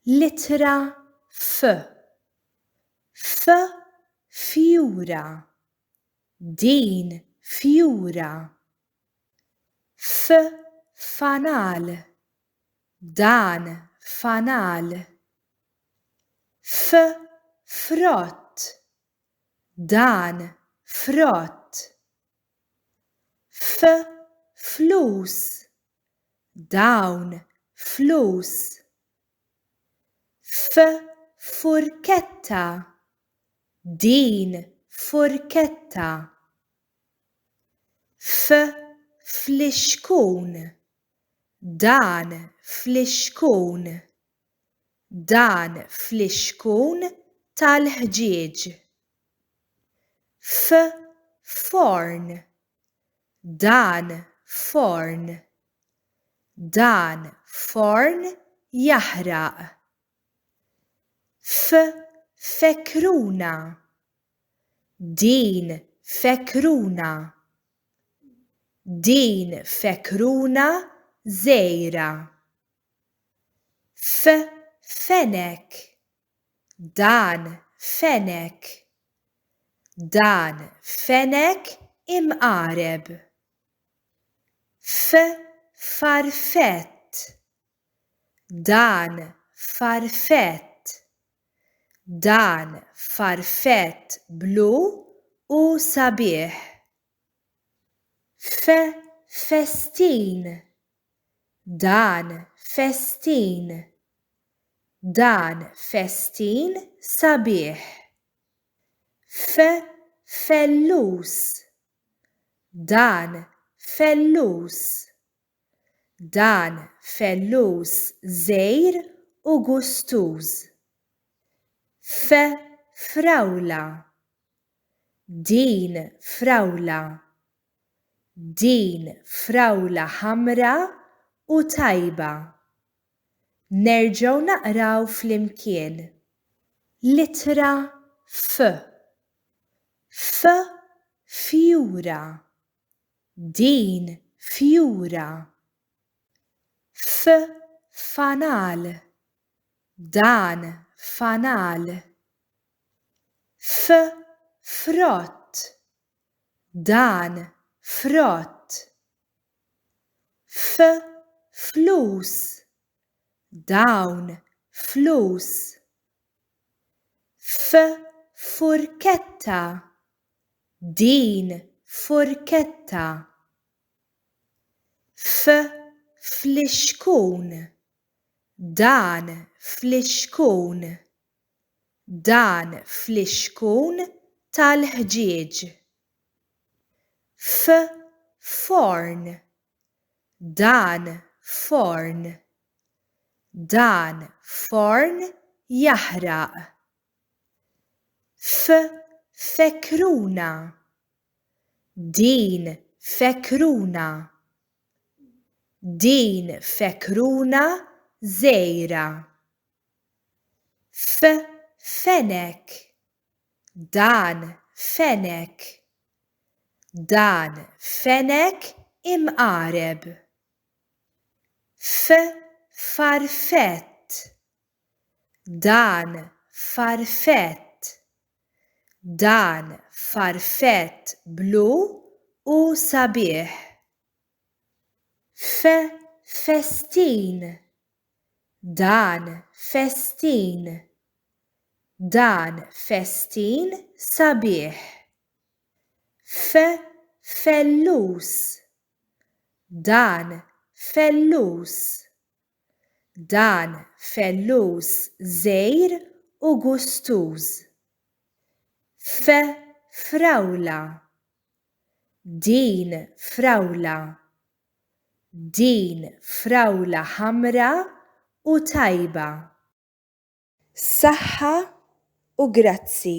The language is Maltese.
L-ittra F. F fjura. Din fjura. F fanal. Dan fanal. F frott. Dan frott. F flus Dawn flus F furketta Din furketta F flixkun Dan flixkun Dan flixkun tal-ħġieġ. F forn Dan forn Dan forn jaħraq. F fekruna Din fekruna Din fekruna żgħira. F fenek Dan fenek. Dan fenek imqareb. F farfett. Dan farfett. Dan farfett blu u sabiħ. F festin. Dan festin! Dan festin sabiħ! F, Fellus! Dan fellus! Dan fellus żgħir u gustuż! F, Frawla! Din frawla Din frawla ħamra u tajba. Nerġgħu naqraw flimkien. L-ittra F. F fjura. Din fjura. F fanal. Dan fanal. F frott. dan frott f' flus dawn flus f' furketta din furketta f' flixkun dan flixkun Dan flixkun tal-ħġieġ. F forn. Dan forn. Dan forn jaħraq. F fekruna. Din fekruna. Din fekruna żgħira. F Fenech Dan Fenech Dan Fenech imqareb. F Farfett Dan Farfett Dan Farfett blu u sabiħ. F Festin Dan festin! Dan festin sabiħ! F, Fellus! Dan fellus! Dan fellus żgħir u gustuż! F, Frawla! Din frawla! Din frawla ħamra u tajba. Saħħa u grazzi.